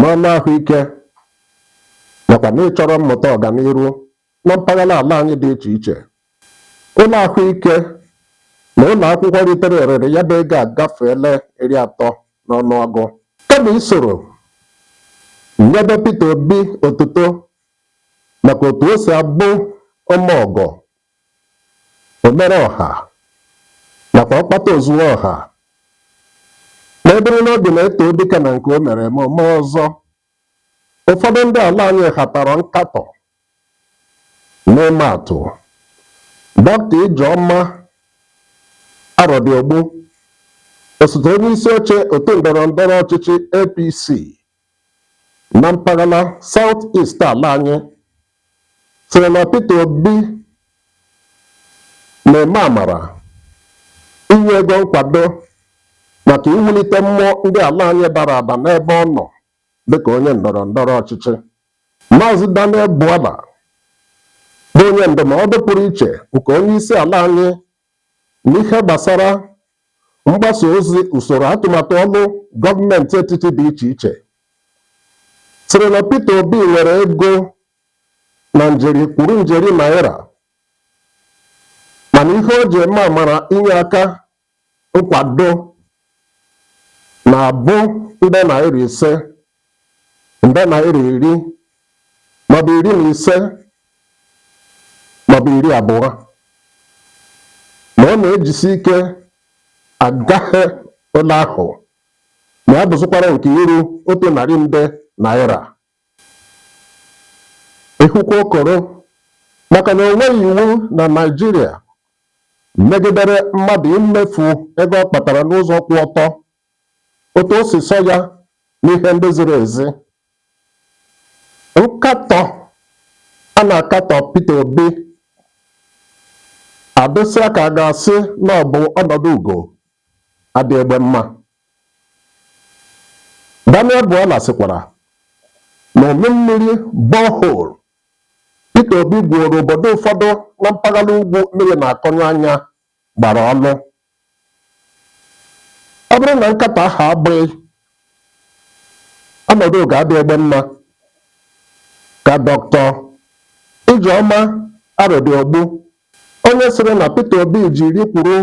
n'ọnụ ahụike nakwa n'ịchọrọ mmụta ọganiru na mpaghara ala anyị dị iche iche. Ụlọ ahụike na ụlọ akwụkwọ ritere erere ya bụ ego agafeela iri atọ n'ọnụọgụ. Kama isoro nyebe Peter Obi otuto maka otu o si abụ ome ọgọ omere ọha nakwa ọkpata ozuo ọha na-eburu n'obi na e too dike na nke o mere eme o mee ọzọ ụfọdụ ndị ala anyị hatara nkatọ n'ịma atụ dọkịta ijeọma arọdịogbu osote onye isi oche otu ndọrọ ndọrọ ọchịchị apc na mpaghara South East ala anyị sịrị na Peter Obi na-eme amara inye ego nkwado maka iwulite mmụọ ndị ala anyị dara ada n'ebe ọ nọ dịka onye ndọrọ ndọrọ ọchịchị. Maazị Daniel Bwala bụ onye ndụmọdụ pụrụ iche nke onye isi ala anyị N'ihe gbasara mgbasa ozi usoro atụmatụ ọlụ gọọmenti etiti dị iche iche sịrị na Peter Obi nwere ego na njeri kwuru njeri naira mana ihe o ji eme amara inye aka nkwado na-abụ nde naira ise. nde naira iri maọbụ iri na ise maọbụ iri abụọ ma ọ na-ejisi ike agafe ole ahụ ma ya bụzụkwara nke iru otu narị nde naira ịhụkwa okoro maka na o nweghị iwu na Naịjirịa megidere mmadụ imefu ego ọ kpatara n'ụzọ kwụ ọtọ otu o si sọ ya n'ihe ndị ziri ezi nkatọ a na-akatọ Peter Obi adịsịa ka a ga-asị na ọ bụ ọnọdụ ugo adị egbe mma Daniel Bwala sịkwara na umi mmiri borehole Peter Obi gwuoro obodo ụfọdụ na mpaghara ugwu mmiri na-akọnyụ anya gbara ọnụ ọ bụrụ na nkatọ ahụ abụghị ọnọdụ ugo adị egbe mma ka dọkịta Ijeọma Arọdịogbu onye sịrị na Peter Obi ji iri kwuru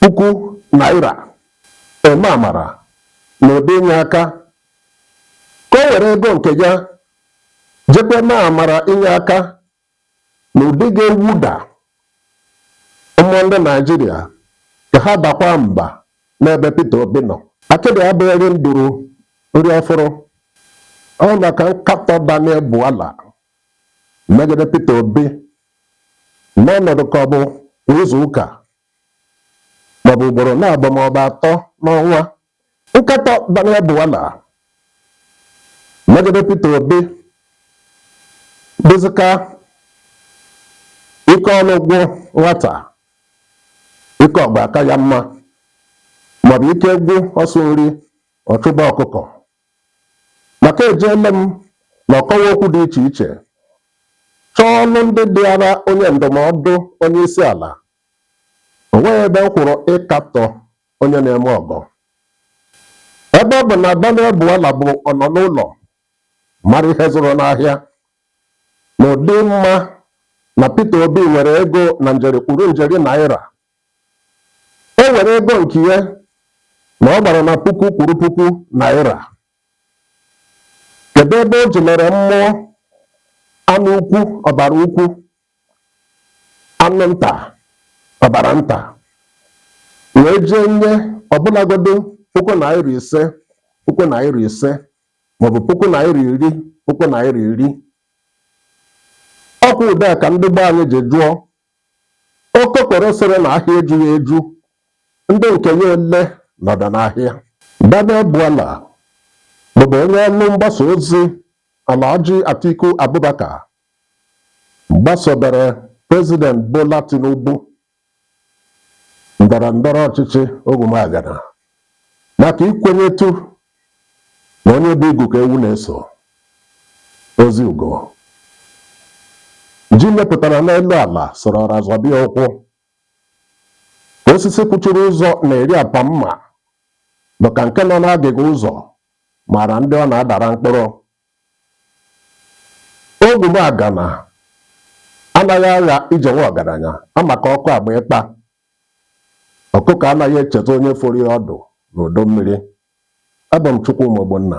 puku naira eme amara na ụdị inye aka ka o were ego nke ya jekwa mee amara inye aka n'ụdị ga-ewuda mmụọ ndị Naijiria ka ha dakwa mba n'ebe Peter Obi nọ. Akịdị abụghị nduru nri ọfụrụ. Ọ maka nkatọ Daniel Bwala megide Peter Obi n'ọnọdụ ka ọ bụ kwa izu ụka maọbụ ugboro naabọ maọbụ atọ n'ọnwa Nkatọ Daniel Bwala megide Peter Obi dịzịka ike ọlụ gwụ nwata ike ọgụ aka ya mma maọbụ ike gwụ ọsụ nri ọ chụba ọkụkọ maka ejeele m na ọkọwa okwu dị iche iche chọọ ọlụ ndị dịara onye ndụmọdụ onye isi ala o nweghị ebe m hụrụ ịkatọ onye na-eme ọgọ ebe ọ bụ na Daniel Bwala bụ ọnọ n'ụlọ mara ihe zụrụ n'ahịa na ụdị ịma na Peter Obi nwere ego na njeri kwuru njeri naira o nwere ego nke ya na ọ gbara na puku kwuru puku naira kedu ebe o ji mere mmụọ anụ ukwu ọbara ukwu anụ nta ọbara nta wee jee nye ọbụlagodo puku naira ise puku naira ise maọbụ puku naira iri puku naira iri ọkwa ụdị a ka ndị gboo anyị ji jụọ okokoro sịrị na ahịa ejughị eju ndị nke ya ole nọdụ n'ahịa Daniel Bwala bụbu onye ọrụ mgbasa ozi Alhaji Atiku Abubakar gbasobere President Bola Tinubu ndọrọ ndọrọ ọchịchị Ogwumagana maka ikwenyetụ na onye bu igu ka ewu na-eso ozigbo ji mepụtara n'elu ala soro ọra zọba ya ụkwụ osisi kwụchiri ụzọ na-eri apa mma bụ ka nke nọ n'agịga ụzọ mara ndị ọ na-adara mkpụrụ Ogwumagana anaghị agha ije nwa ọgaranya maka ọkụ agba ikpa. Ọkụkọ anaghị echezọ onye foro ya ọdụ n'udu mmiri. Abụ m Chukwuma Ogbonna.